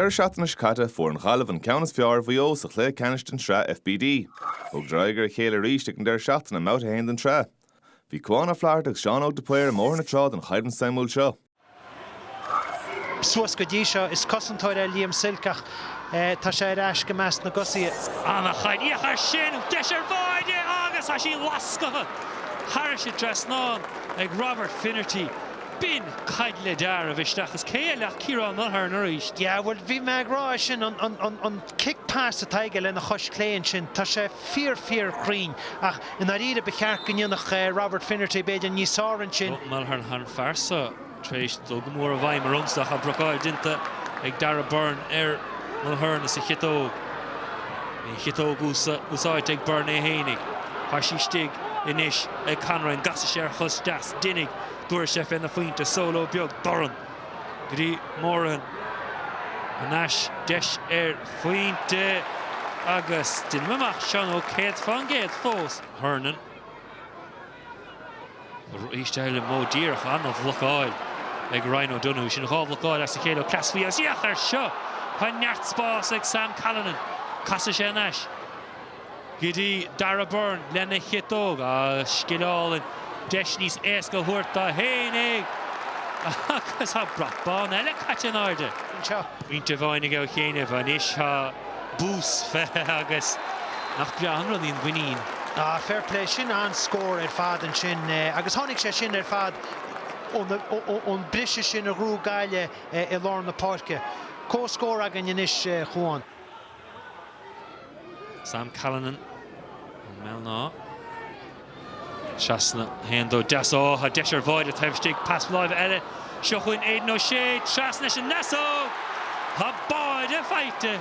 Deireadh seachtaine seo caite, fuair an Ghaillimh an ceann is fearr ar Mhaigh Eo sa chluiche ceannais den tSraith FBD. Thugadar aghaidh ar a chéile arís ag an deireadh seachtaine i mBabhta 1 den tsraith. Bhí Cuán Ó Flatharta agus Seán Óg de Paor i mBóthar na Trá don choimhlint suimiúil seo. Suas go dtí seo, is cosantóir é Liam Silke ach tá sé ar ais i measc na dtosaithe. Anachain, féach air sin! Deis ar bháide agus tá sí lasctha thairis an dtrasnán ag Robert Finnerty. B'in caid le dealramh isteach is cé eile ach Ciarán Mulhern arís? Yeah, bhuel, bhí mé ag rá é sin, an cic pas atá aige lena chois chlé ansin, tá sé fíor, fíor chruinn ach i ndáiríre ba cheart go ndéanfadh Robert Finnerty b'fhéidir níos fearr ansin. Mulhern tá an fear so tar éis dul go mór i bhfeidhm ormsa ach blocáil déanta ag Darragh Beirne ar Mulhern is a chiotóg, é a chiotóg úsáidte ag Beirne é féinig. Tá sí istigh anois ag Conroy, an gcasfaidh sé ar a chos deas? Déanfaidh. Tabharfaidh sé féna phointe, solo beag dorn go dtí Moran. Anois deis ar phointe agus déanaim amach Seán Óg céad fán gcéad fós. Hernon. Arís eile modh díreach an-bhlocáil ag Ryan O'Donoghue. Sin dhá bhlocáil as a chéile ó Cleas faoi agus féach air seo! Tá neart spás ag Sam Callinan. Casfaidh sé anois. go dtí Darragh Beirne lena chiotóg agus scil álainn, deis níos éasca a thabhairt dó féinig agus tá brat bán eile caite in airde anseo. Pointe amháin aige ó chianaibh. Anois tá boost faighte agus nach breá an rud í an mhuinín. Ah, fair play, sin an-scór ar fad ansin agus tháinig sé sin ar fad ón briseadh sin a ghrú gaile i lár na páirce. Comhscór againn anois, a Chuáin. Sam Callinan, ó Bhéal an Átha. Trasna, haon dó deas, ó tá deis ar bháide taobh istigh, pas láimhe eile, seo chugainn Aidan O'Shea, trasna leis an ndeasóg! Tá báide faighte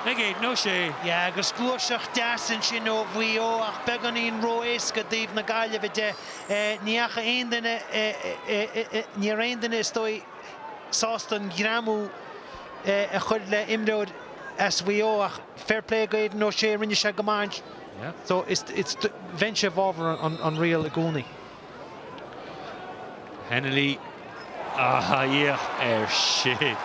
ag Aidan O'Shea. Yeah agus gluaiseacht deas ansin ó Mhaigh Eo ach beagáinín ró-éasca i dtaobh na Gaillimhe de. Ní fhaca aon duine, ní raibh aon duine is dóigh, sásta an greamú a chur le imreoir as Mhaigh Eo ach fair play do Aidan O'Shea rinne sé go maith so is bheinnse i bhfabhar an riail i gcónaí. Hennelly ah féach air sin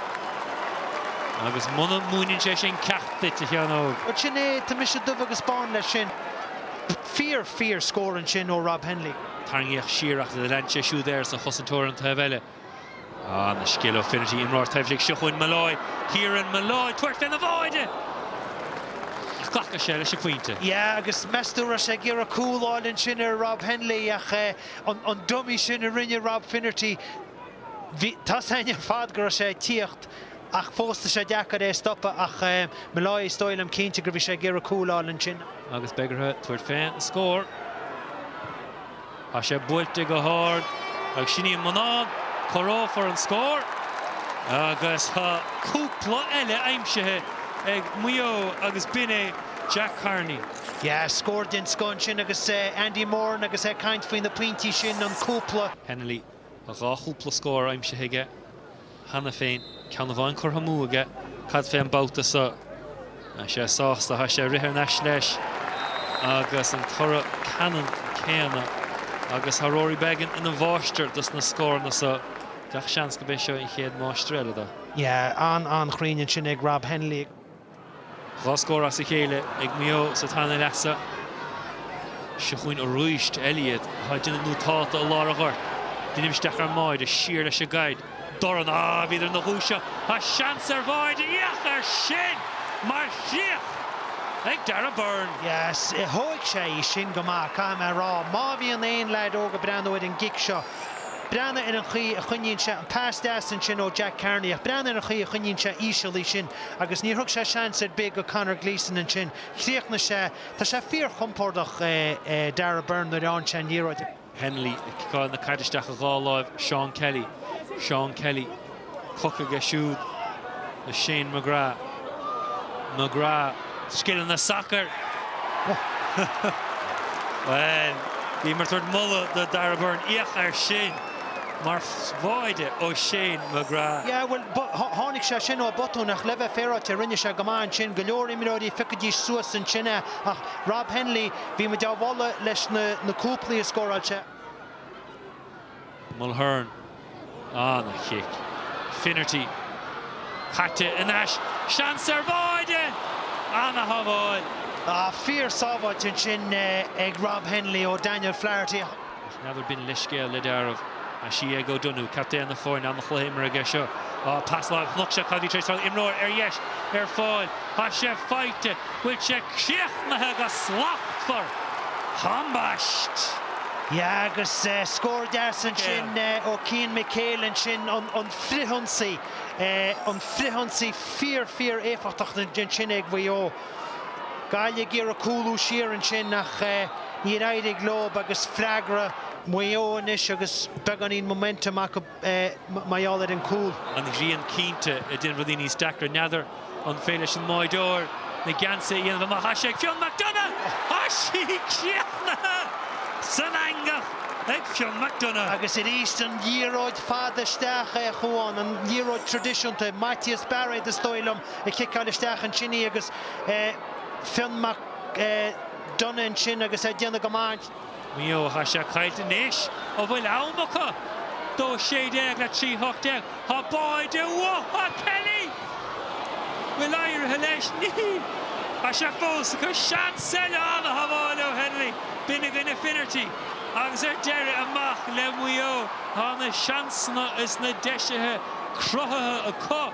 agus muna múineann sé sin ceacht duit a Sheán Óg. Bhuel sin é tá mise dubh agus bán leis sin. Fíor fíor scór ansin ó Rob Hennelly. Tarraingíodh siar ach lean sé siúd air sa chosaint ar an taobh eile. Ah, an-scil ó Finnerty, imreoir taibhseach seo chugainn Molloy, Kieran Molloy, tabhairt fén mbáide! Ach glacann sé leis an bpointe. Yeah agus meas tú an raibh sé ag iarradh cúl fháil ansin ar Rob Hennelly ach an dummy sin a rinne Rob Finnerty bhí a fhios againn ar fad go raibh sé ag tíocht ach fós tá sé deacair é stopadh ach Molloy is dóigh liom cinnte gur bhí sé ag iarradh cúl fháil ansin. Agus beidh orthu tabhairt fén scór. Tá sé buailte go hard ag Sinéad Manán, comhaireofar an scór agus tá cúpla eile aimsithe ag Maigh Eo agus b'in é Jack Carney. Yeah, scór den scoth ansin agus Andy Moran agus é ag caint faoi na pointí sin, an cúpla. Hennelly a dhá chúpla scór aimsithe aige cheana féin, ceann amháin curtha amú aige. Cad fén babhta so? Tá sé sásta, tá sé ag rith thar n-ais leis agus an toradh ceannann céanna agus tá Rory Beggan ina mháistir dos na scóranna so. Gach seans gurb é seo an chéad máistir eile do. Yeah, an-an-chruinn ansin ag Rob Hennelly. Dhá scór as a chéile ag Maigh Eo sa tarna leath so. Seo chugainn arís Elliot atá ag déanamh nútáta i lár an ghoirt. Déanamh isteach ar an mbáide, siar leis an gcaid. Dorn, ah, bhí idir na dhúiseacht. Tá seans ar bháide, féach air sin! Mar chríoch ag Darragh Beirne. Yes, thóig sé í sin go maith, caithfidh mé a rá. Má bhíonn aon leaid óg ag breathnú ar an gcic seo, breathnaigh ar an chaoi a choinníonn sé an pas deas ansin ó Jack Carney ach breathnaigh ar an chaoi a choinníonn sé íseal í sin. Agus níor thug sé seans ar bith do Conor Gleeson ansin. Chríochnaigh sé, Tá sé fíorchompordach, Darragh Beirne nuair a fhaigheann sé an liathróid ar. Hennelly ag ciceáil na caide isteach i dhá láimh, Seán Kelly. Seán Kelly, poc aige siúd le Shane McGrath. McGrath. Scileanna sacair! Bhuel, bhí mé ag tabhairt moladh do Darragh Beirne. Féach air sin! Mar bháide ó Shane McGrath. Yeah, bhuel, tháinig sé sin ó botún ach le bheith féaráilte rinne sé go maith ansin. Go leor imreoirí feicfidís suas ansin é ach Rob Hennelly, bhí muid á mholadh leis na cúplaí a scóráil sé. Mulhern, an-chic. Finnerty, caite in ais. Seans ar bháide! An-shábháil. Ah, fíor-sábháilt ansin ag Rob Hennelly ó Daniel Flaherty. Ach n'fheadar B'in leithscéal le deáramh. Tá sí ag O'Donoghue, captaen na foirne, an-chluiche imeartha aige seo. Ááá, pas lag, chnoc sé caidí tar éis dul imreoir ar dheis, ar fáil, tá sé faighte, bhfuil sé críochnaithe go slachtmhar! Ambaist! Yeah agus scór deas ansin ó Cian McHale ansin, an frithionsaí, an frithionsaí fíor fíor éifeachtach ansin ag Mhaigh Eo. Gaillimh ag iarraidh cúlú siar ansin ach níor éirigh leo agus freagra Mhaigh Eo anois agus beagáinín momentum acu mar gheall ar an gcúl. An ghrian cinnte ag déanamh rudaí níos deacra. N'fheadar an féidir leis an mbáireoir na geansaí a dhéanamh amach? Tá sé ag Fionn McDonagh! Tá sí críochnaithe san eangach ag Fionn McDonagh. Agus arís an liathróid fada isteach a Chomáin, an liathróid traidisiúnta, Maitias Bairéad is dóigh liom, ag ciceáil isteach ansin í agus Fionn McDonagh ansin agus é ag déanamh go maith. Maigh Eo. Tá sé caillte anois a bhfuil ann acu 2 16 le 3 18. Tá báide uathu ach Kelly bhfuil éirithe leis. Níl. Tá sé fós acu. Seans eile an-shábháil ó Hennelly. B'in againn a Finnerty agus ar deireadh amach le Maigh Eo. Tá na seansanna is na deisithe cruthaithe acu.